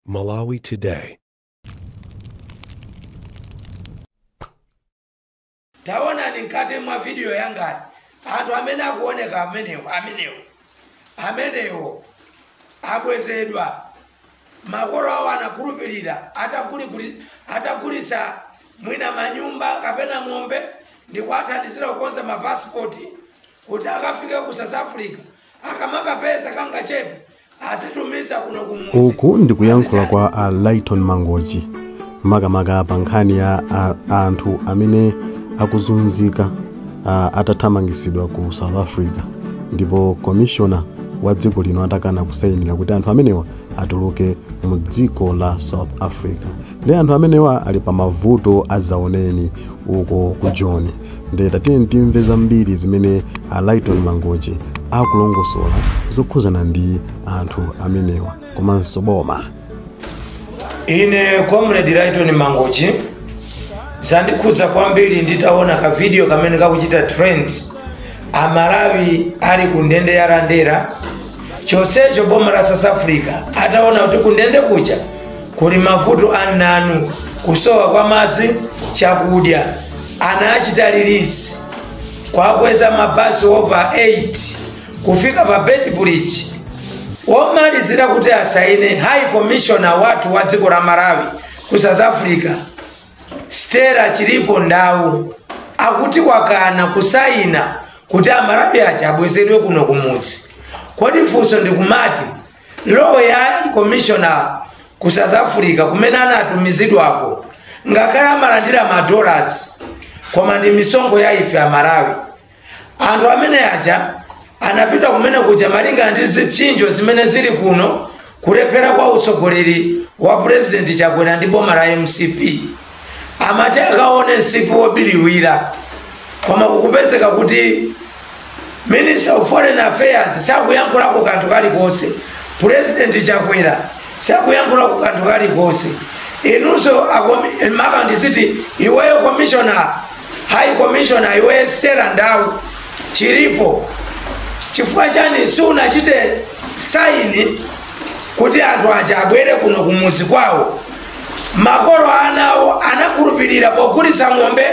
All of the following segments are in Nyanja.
Malawi Today. taonani mkati mwa vidiyo yangayi anthu amene akuoneka amenewo amenewo amenewo abwezedwa makolo awo anakhulupirira atagulikuli- atagulitsa mwina manyumba kapena ng'ombe ndikuwathandizira kukonza mapasipoti kuti akafike ku south africa akamakapeza kangachepe azitumiza kuno kumudzi uku ndikuyankhula kwa a lighton mangochi makamaka pa nkhani ya a- anthu amene akuzunzika a, atathamangisidwa ku south africa ndipo komishona wa dziko lino atakana kusayinira kuti anthu amenewa atuluke mu dziko la south africa ndi anthu amenewa ali pa mavuto azaoneni uko ku joni nde tatiyeni timve zambiri zimene a lighton mangochi akulongosola zokhuzana ndi anthu amenewa komanso boma ine comrade lighton mangochi zandikhudza kwambiri nditaona ka video kamene kakuchita trend amalawi ali ku ndende ya lindela chonsecho boma la south africa ataona kuti ku ndende kuja Kuli mavuto a mnanu, kusowa kwa madzi, chakudya. Anawachita release. Kuwakweza mabasi over 8 kufika pa Beitbridge. Womalizira kuti asaine High Commissioner wathu wa dziko la Malawi ku South Africa Stella Chiripo Ndau akuti wakana kusaina kuti amalawi aja abwezedwe kuno kumudzi. Kodi funso ndikumati role ya high commissioner ku south africa kumene anatumizidwako ngakhale amalandira madollars koma ndi misonkho ya ife amalawi anthu amene aja anapita kumene kuja malinga ndi zipsinjo zimene zili kuno kulephera kwa utsogoleri wa purezidenti chakwera ndi boma la mcp amati akaone msipu wobiriwira koma kukupezeka kuti minister of foreign affairs sakuyankhulako kanthu kalikonse president chakwera sakuyankhulako kanthu kalikonse inunso akomi- maka ndiziti iweyo commissioner high commissioner iweyo stella ndau chiripo chifukwa chani siunachite saini kuti anthu aja abwere kuno kumudzi kwawo makolo a anawo anakhulupirira pogulitsa ng'ombe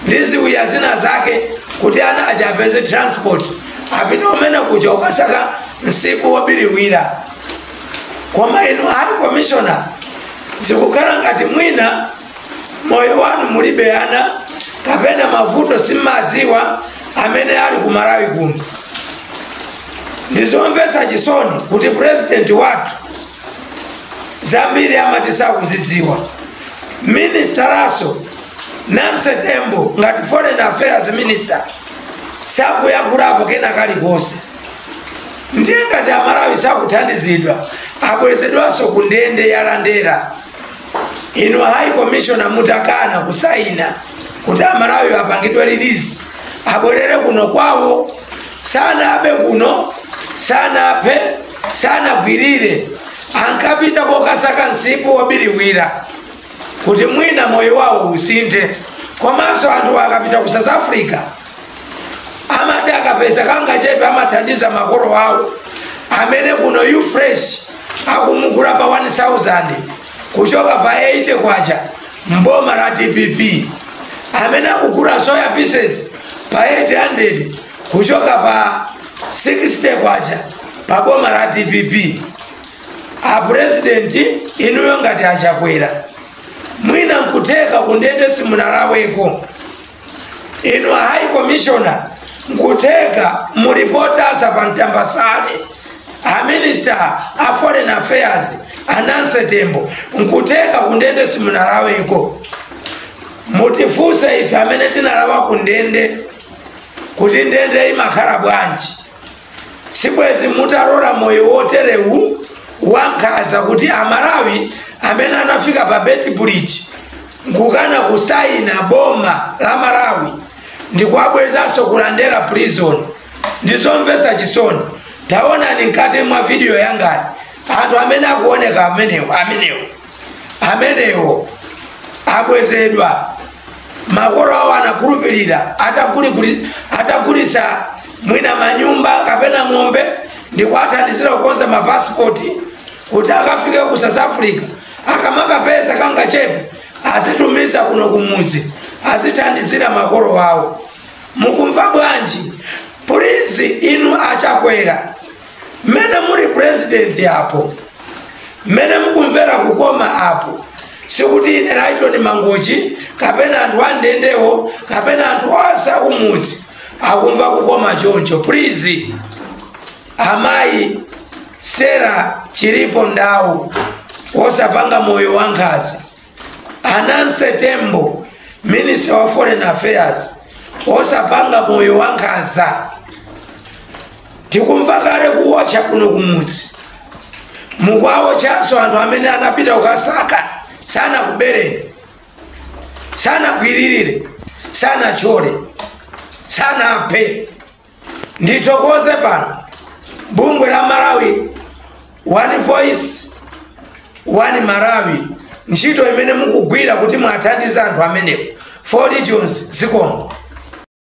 ndi ziwiya zina zake kuti ana aja apeze transport apite kumene kuja kukasaka msipu wobiriwira koma inu high commissioner zikukhala ngati mwina moyo wanu mulibe ana kapena mavuto simmadziwa amene ali ku malawi kuno ndizomvetsa chisoni kuti purezidenti wathu zambiri amati sakuzidziwa minister nawonso nancy tembo ngati foreign affairs minister sakuyankhulapo kena kalikonse ndiye ngati amalawi sakuthandizidwa abwezedwanso ku ndende ya lindela inu high commissioner mutakana kusaina kuti amalawi apangidwe release abwerere kuno kwawo sanabe kuno sanaphe sanagwirire ankapita kokasaka msipu wobiriwira kuti mwina moyo wawo usinthe komanso anthu akapita ku south africa amati akapeza kangachepe amathandiza makolo awo amene kuno u-fresh akumugula pa 1000 kuchoka pa 80 kwacha mboma la dpp amene akugula soya pieces pa 800 kuchoka pa 60 kwacha pa boma la dpp apurezidenti inuyo ngati achakwera mwina nkutheka kundende simunalaweko inu a high commissioner nkutheka muli potasa pa mtambasane a minister a foreign affairs a nancy tembo nkutheka kundende simunalaweko mutifunse ife amene tinalawa kundende kuti ndende imakhala bwanji sibwezi mutalola moyo woterewu wankhaza kuti amalawi amene anafika pa beitbridge nkukana kusayina boma la malawi ndikuwabwezanso ku lindela prison ndizomvesa chisoni taonani mkati mwa vidiyo yangayi anthu amene akuoneka amenewo amenewo amenewo abwezedwa makolo awo anakhulupirira atakuli- atagulitsa mwina manyumba kapena ng'ombe ndikuwathandizira kukonza mapasipoti kuti akafike ku south africa akamakapeza kangachepe azitumiza kuno kumudzi azithandizira makolo awo mukumva bwanji pulizi inu achakwera mmene muli purezidenti apo mmene mukumvera kukoma apo sikuti ine Lighton mangochi kapena anthu andendewo kapena anthu onse akumudzi akumva kukoma choncho please amayi stella chilipo ndawu wosapanga moyo wa nkhaza a nancy tembo minister wa foreign affairs wosapanga moyo wa nkhaza tikumva kale kuwotcha kuno kumudzi mukuwawotchanso anthu amene anapita kukasaka sanakubereni sanagwiririre sanatchole sanaphe ndithokoze pano bungwe la malawi one voice one malawi ntchito imene mukugwira kuti muwathandize anthu amenewo ford jones zikomo